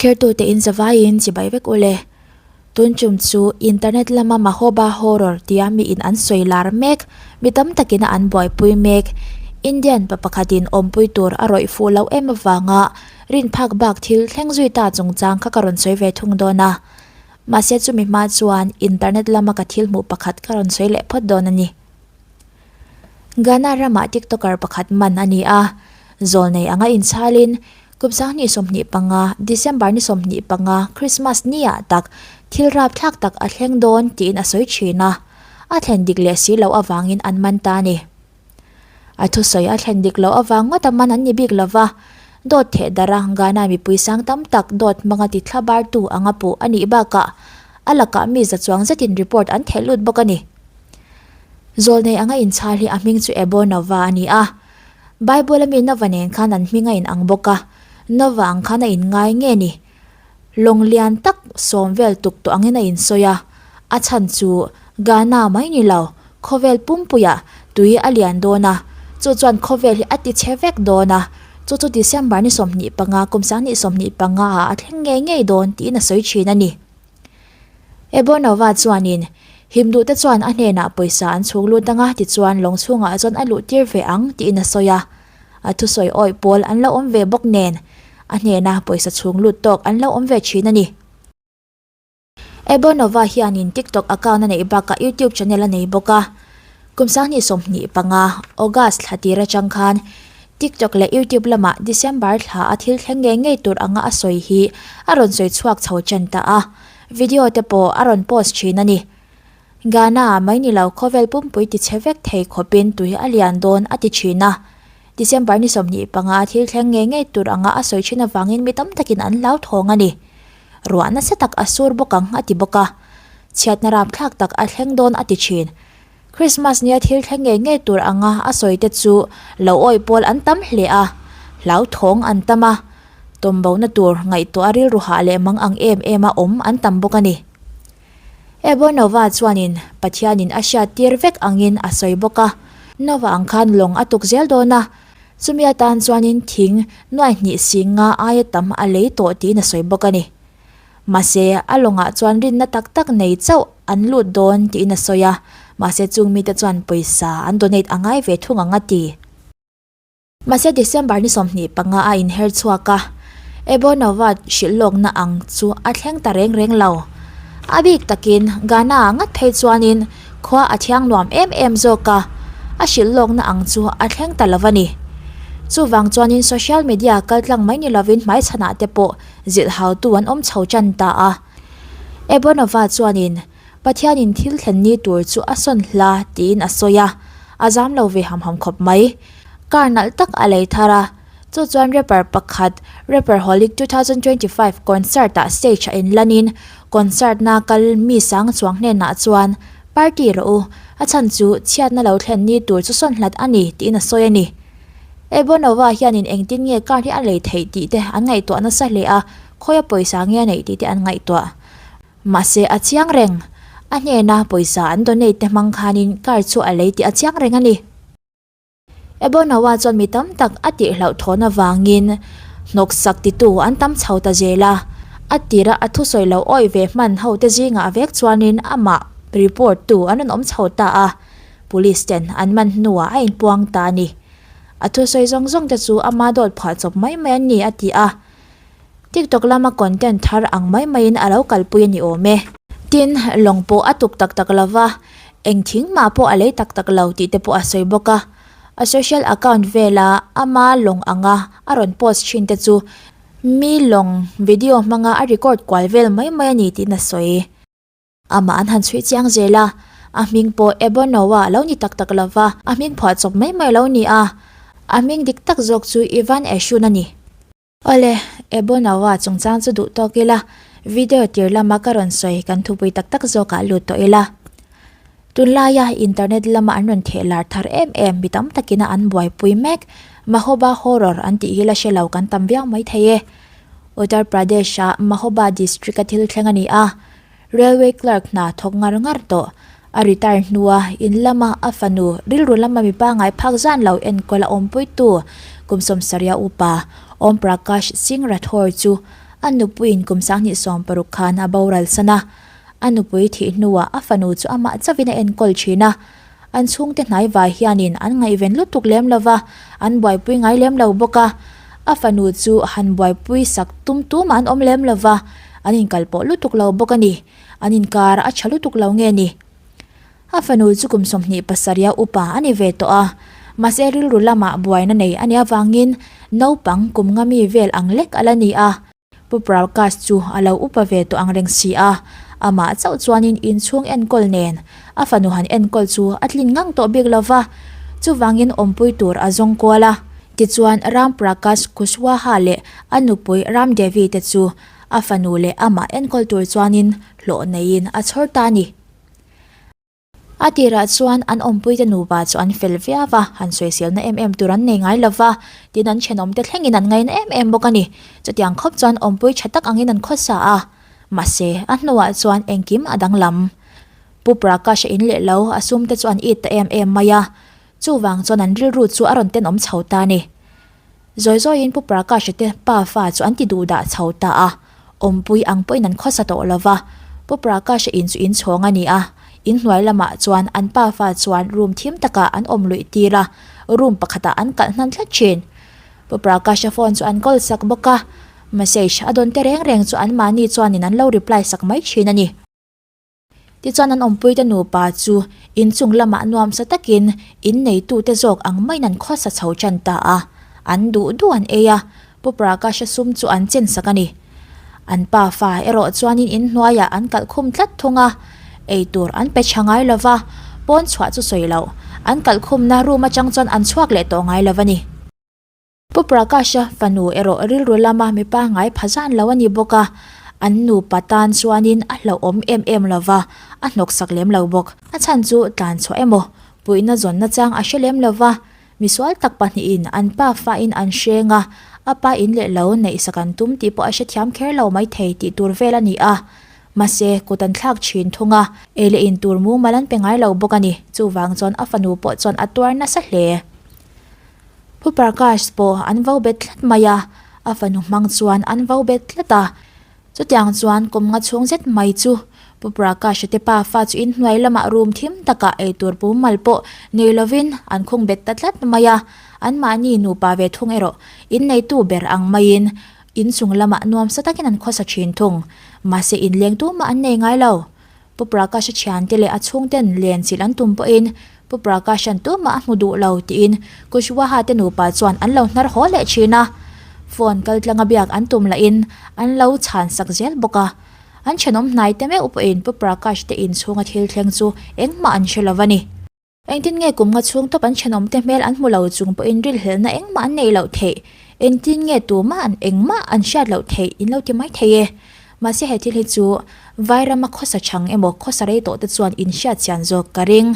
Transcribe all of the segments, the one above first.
Thlertu te in zavai in chibai vek u le. Tun chum chu internet lama Mahoba horror tia mi in an sawi lar mek, mi tam tak in a an buaipui mek. Indian pa pakhat in awmpui tur a rawih fuh loh em avanga rinphak bak thil thleng zui ta chungchang kha ka rawn sawi ve thung dawn a. Mahse chumi hma chuan internet lama ka thil hmuh pakhat ka rawn sawi leh phawt dawn a ni. Ghana ramah tiktoker pakhat man a ni a, zawl nei anga inchhalin Kupzang ni sawmhnih panga, December ni sawmhnih panga, Christmas ni ah tak thil rapthlak tak a thleng dawn tiin a sawi thin a, a thlen dik leh si loh avangin an man ta a ni. A thusawi a thlen dik loh avang ngawta man an ni bik lo va, dawt theh darh a, Ghana mipui sang tam tak dawt hmanga ti thla bartu anga puh a nih bakah a lakah mi za chuang zetin report an theih lut bawk a ni. Zawlnei anga inchhal hi a hming chu Ebo Nova a ni a, Bible a mi Nova nen khan an hming a inang bawk a, Nova ang khan a inngai nge ni? Lawng lian tak sawm vel tuk tawh angin a insawi a, a chhan chu Ghana mai ni lo, khawvel pumpuia tui a lian dawn a, chu chuan khawvel hi a ti che vek dawn a, chu chu December ni sawmhnih panga, kum sang ni sawmhnih panga ah a thleng ngei ngei dawn tiin a sawi thin a ni. Ebonova chuanin him duh te chuan a hnenah pawisa an chhuk lut ang a, tichuan lawng chhungah chuan a luh tir ve ang tiin a sawi a. A thusawi awih pawl an lo awm ve bawk nen a hnena pawisa chhung lut tawk an lo awm ve thin a ni. Ebonova hianin TikTok account a neih bakah YouTube channel a nei bawk a. Kum Sanghnih sawmhnih panga, August, thla tir atang khan TikTok leh YouTube lamah December thla a thil thleng ngei ngei tur anga a sawi hi a rawn sawi chhuak chho chan ta a, video te pawh a rawn post thin a ni. Gana ah mai ni lo khawvel pumpui ti chhe vek thei khawpin tui a lian dawn a ti thin a. December ni sawmhnih panga a thil thleng ngei ngei tur anga a sawi thin avangin mi tam takin an hlauthawng a ni. Ruah nasa tak a sur bawk ang a ti bawk a. Chhiatna rapthlak tak a thleng dawn a ti thin. Krismas nia thil thleng ngei ngei tur anga a sawi te chu lo awih pawl an tam hle a, hlauthawng an tam a, tawmbo na tur ngaihtuah a rilru hah leh mang ang em em a awm an tam bawk a ni. Evo Nova chuanin Pathianin a hriat tir vek angin a sawi bawk a, Nova ang khan lawng a tuk zel dawn a, chumi atan chuanin thing nuai hnih sing nga aia tam a lei tawh tiin a sawi bawk a ni. Mahse, a lawngah chuan rinna tak tak nei chauh an lut dawn tiin a sawi a, mahse chung mite chuan pawisa an donate a ngai ve thung ang a ti. Mahse, December ni sawmhnih panga a inher chhuak a, Ebonova hrilh lawkna ang chu a thleng ta reng reng lo. A bik takin Ghana a ngat phei chuanin khua a thiang nuam em em zawk a, a hrilh lawkna ang chu a thleng ta lo a ni. Chuvang chuanin social media kal tlang mai ni lovin hmaichhanah te pawh zilhautu an awm chho tan ta a. Ebonova chuanin Pathianin thil thlen ni tur chu a sawn hla tiin a sawi a, a zam lo ve ham ham khawp mai. Car nalh tak a lei thar a, chu chuan rapper pakhat Rapperholic two thousand twenty five concert ah stage a inlanin concert na kal mi sang chuang hnenah chuan Party rawh u, a chhan chu chhiatna lo thlen ni tur chu sawn hlat a ni tiin a sawi a ni. Ebonova hianin engtin nge car hi a lei theih tih te an ngaihtuah nasa hle a, khawi a pawisa nge a neih tih te an ngaihtuah. Mahse, a chiang reng. A hnena pawisa an donate te hmang khanin car chu a lei tih a chiang reng a ni. Ebonawa chuan mi tam tak a tih hlauh thawn avangin hnawksak titu an tam chho ta zel a. A tira a thusawi lo awih ve hman hote zingah vek chuanin amah report tu an rawn awm chho ta a, police ten an man hnuah a inpuang ta a ni. A thusawi zawng zawng te chu ama dawt phah chawp mai mai an ni, a ti a. Tiktok lama content thar ang mai maiin a lo kalpui a ni awm e. Tin, lawng pawh a tuk tak tak lo va, eng thing mah pawh a lei tak tak lo tih te pawh a sawi bawk a. A social account vela ama lawng anga a rawn post thin te chu mi lawng video hmanga a record kual vel mai mai a ni tiin a sawi. Amah an han chhui chiang zel a, a hming pawh Ebono-a a lo ni tak tak lo va, a hming phuah chawp mai mai lo nia. A hming dik tak zawk chu Ivan Eshun a ni. Awle, Ebo no a chungchang chu duh tawk ila, video tir lama ka rawn sawi kan thupui tak tak zawkah lut tawh ila. Tun laia internet lama an rawn theh lar thar em em, mi tam takina an buaipui mek, Mahoba horror an tih hi la hre lo kan tam viau maithei e. Uttar Pradesh-a Mahoba district-a thil thleng a ni a. Railway clerk hna thawk ngar ngar tawh. A retire hnua in lama a fanu rilru lama mipa ngaiphak zan lo enkawl a awmpuitu Kum Sawmsarya upa Om Prakash Singh Rathore chu a nupuiin kum sanghnih sawm paruk khan a boral san a. A nupui thih hnuah a fanu chu amah chavin a enkawl thin a. An chhungte hnaivai hianin an ngaihven lutuk lem lo va, an buaipui ngai lem lo bawk a. A fanu chu han buaipui sak tum tuma an awm lem lo va, an inkal pawh lutuk lo bawk a ni. An inkar a tha lutuk lo nge ni? A fanu chu kum sawmhnih pasarih-a upa a ni ve tawh a, mahse rilru lamah buaina nei a nih avangin naupang kum ngami vel ang lek a la ni a. Pu Prakash chu a lo upa ve tawh ang reng si a, amah chauh chuanin inchhung enkawl nen a fanu han enkawl chu a tlin ngang tawh bik lo va, chuvangin awmpui tur a zawng kual a. Tichuan, Ram Prakash Kushwaha leh a nupui Ram Devi te chu a fanu leh amah enkawl tur chuanin hlawh neiin a chhawr ta a ni. A tirah chuan an awmpuite nupa chu an fel viau a, han sawi siamna em em tur an nei ngai lo va, tin an thenawmte thlengin an ngaina em em bawk a ni. Chutiang khawp chuan awmpui tha tak angin an khawsa a. Mahse, a hnuah chuan engkim a danglam. Pu Prakash a in leh lo, a sumte chu an it ta em em mai a. Chuvang chuan an rilru chu a rawn tenawm chho ta a ni. Zawi zawiin Pu Prakasha te pa fa chu an ti duh dah chho ta a, awmpui ang pawhin an khawsa tawh lo va. Pu Prakasha in chu in chhawng a ni a, in hnuai lamah chuan an pa fa chuan room thim takah an awm luih tir a, room pakhatah an kalh hman thla thin. Pu Prakasha phone chu an call sak bawk a, message a dawnte reng reng chu anmahni chuanin an lo reply sak mai thin a ni. Tichuan an awmpuite nupa chu inchung lamah nuam sa takin in neitute zawk ang maiin an khawsa chho ṭan ta a, an duh duh an ei a, Pu Prakasha sum chu an chen sak a ni. An pa fa erawh chuanin in hnuaiah an kalh khum tlat thung a, eitur an pe ṭha ngai lo va, pawn chhuah chu sawi loh, an kalh khumna room atang chuan an chhuak leh tawh ngai lo a ni. Pu Prakasha fanu erawh rilru lama mipa ngai pha zan lo a ni bawk a, an nupa tan chuanin a hlauhawm em em lo va, a hnawksak lem lo bawk. A chhan chu tlan chhuah emaw, puihna zawnna chang a hre lem lo va, misual tak pahnihin an pa fain an hreng a, a pa in leh lo neihsa kan tum tih pawh a hrethiam kher lo mai thei tih tur vel a ni a, mahse kut an thlak thin thung a, ei leh in tur mumal an pe ngai lo bawk a ni, chuvang chuan a fanu pawh chuan a tuar nasa hle. Pu Prakash pawh an vo bet tlat mai a, a fanu hmang chuan an vo bet tlat a. Chutiang chuan kum nga chhung zet mai chu Pu Prakash-a te pa fa chu inhnuai lamah rum thim takah ei tur pu mal pawh nei lovin an khung bet ta tlat mai a. Anmahni nupa ve thung erawh inneitu ber ang maiin inchung lamah nuamsa takin an khawsa thin thung. Mahse, inleng tumah an nei ngai lo. Pu Prakasha thiante leh a chhungten len chilh an tum pawhin Pu Prakashan tumah a hmu duh lo tiin Kushwaha-te nupa chuan an lo hnar haw leh thin a. Phone kal tlanga biak an tum lahin an lo chhan sak zel bawk a. An thenawm hnaite meuh pawhin Pu Prakash-te inchhunga thil thleng chu engmah an hre lo a ni. Engtin nge kum nga chhung tawp an thenawmte hmel an hmu lo chung pawhin rilhelna engmah an neih loh theih? Engtin nge tumah an engmah an hriat loh theih? In lo ti mai thei e. Mahse he thil hi chu Vairama khawsa chhang emaw khawsa rei tawhte chuan in hriatchian zawk ka ring.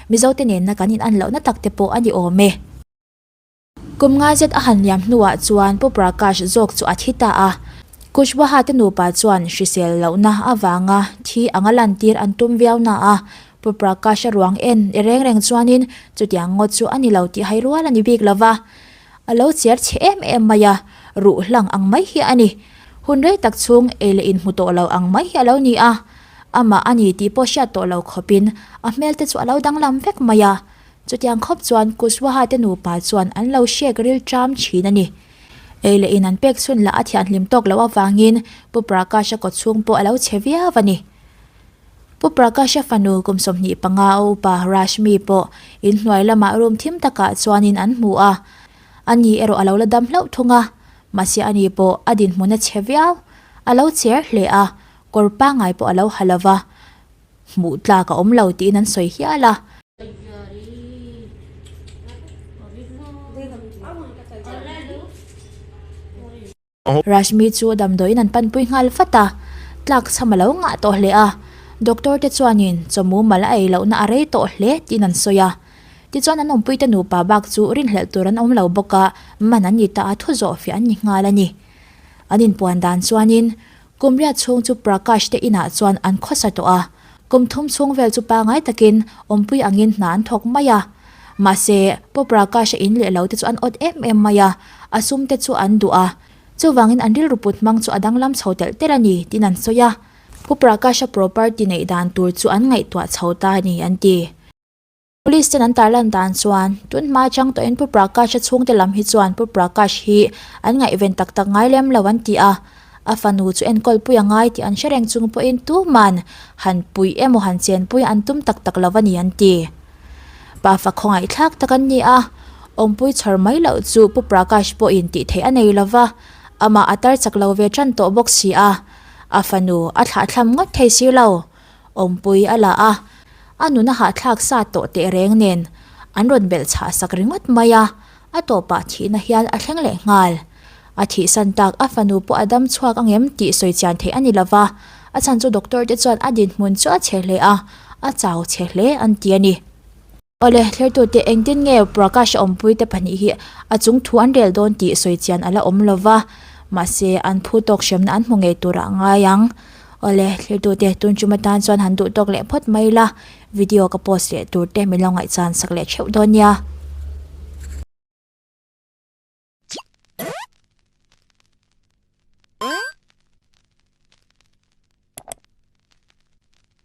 Mizote nenna kan in an lohna takte pawh a ni awm e. Kum nga zet a han liam hnuah chuan Pu Prakash zawk chu a thi ta a. Kushwaha te nupa chuan hrisel lohna avanga thi anga lantir an tum viau na a, Pu Prakasha ruang en e reng reng chuanin chutiang ngawt chu a ni lo tih hai rual a ni bik lo va. A lo chiar chhe em em mai a, ruh hlang ang mai hi a ni. Hun rei tak chhung ei leh in hmu tawh lo ang mai hi a lo ni a, amah a ni tih pawh hriat tawh lo khawpin a hmel te chu a lo danglam vek mai a, Chutiang khawp chuan Kushwaha te nupa chuan an lo hriak rilṭam ṭhin a ni. Ei leh in an pek chhun lah a thian hlim tawk loh avangin Pu Prakasha kawt chhung pawh a lo chhe viau a ni. Pu Prakasha fanu kum sawmhnih panga a upa Rashmi pawh in hnuai lamah room thim takah chuanin an hmu a, a ni erawh a lo la dam hlauh thung a, mahse a ni pawh a dinhmun a chhe viau. A lo cher hle a, kawr pangai pawh a lo ha lo va. hmuh tlak a awm lo tiin an sawi hial a. Rashmi chu a damdawiin an panpui nghal vat a, tlak chham a lo ngah tawh hle a. Doctor te chuanin chawmu mal a ei lohna a rei tawh hle tiin an sawi a. Tichuan an awmpuite nupa bak chu rinhlelh tur an awm lo bawk a, man an ni ta a, thu zawh fiah an ni nghal a ni. An inpuan dan chuanin Kum riat chhung chu Prakash te inah chuan an khawsa tawh a, kum thum chhung vel chu pangai takin Awmpui angin hna an thawk mai a. Mahse, Pu Prakasha in leh lo te chu an awt em em mai a, a sum te chu an duh a, chuvangin an rilru put hmang chu a danglam chho telh telh a ni, tin an sawi a. Pu Prakasha property neih dan tur chu an ngaihtuah chho ta a ni, an ti. Police ten an tarlan dan chuan tun hma chang tawhin Pu Prakash-a chhungte lam hi chuan Pu Prakash hi an ngaihven tak tak ngai lem lo an ti a, a fanu chu enkawlpui a ngai tih an hre reng chung pawhin tuman han puih emaw han chenpui an tum tak tak lo a ni an ti. Pa fa khawngaihthlak tak an ni a, awmpui chhawr mai loh chu Pu Prakash pawhin tih theih a nei lo va, amah a tar chak lo ve tan tawh bawk si a, a fanu a thlahthlam ngawt thei si lo. Awmpui a la a, a nuna hahthlak sa tawh teh reng nen an rawn belh chhah sak ringawt mai a, a tawpah thihna hian a thleng leh nghal. A thih san tak a fanu pawh a dam chhuak a ngem tih sawi chian theih a ni lo va, a chhan chu doctor te chuan a dinhmun chu a chhe hle a, a chau chhe hle an ti a ni. Awle, thlertute, engtin nge Prakash a awmpui te pahnih hi a chung thu an rel dawn tih sawi chian a la awm lo va, mahse, an phu tawk hremna an hmu ngei tur a ngai ang. Awle, thlertute, tun chum atan chuan han duh tawk leh phawt mai la, video ka post leh tur te min lo ngaihchan sak leh theuh dawn nia.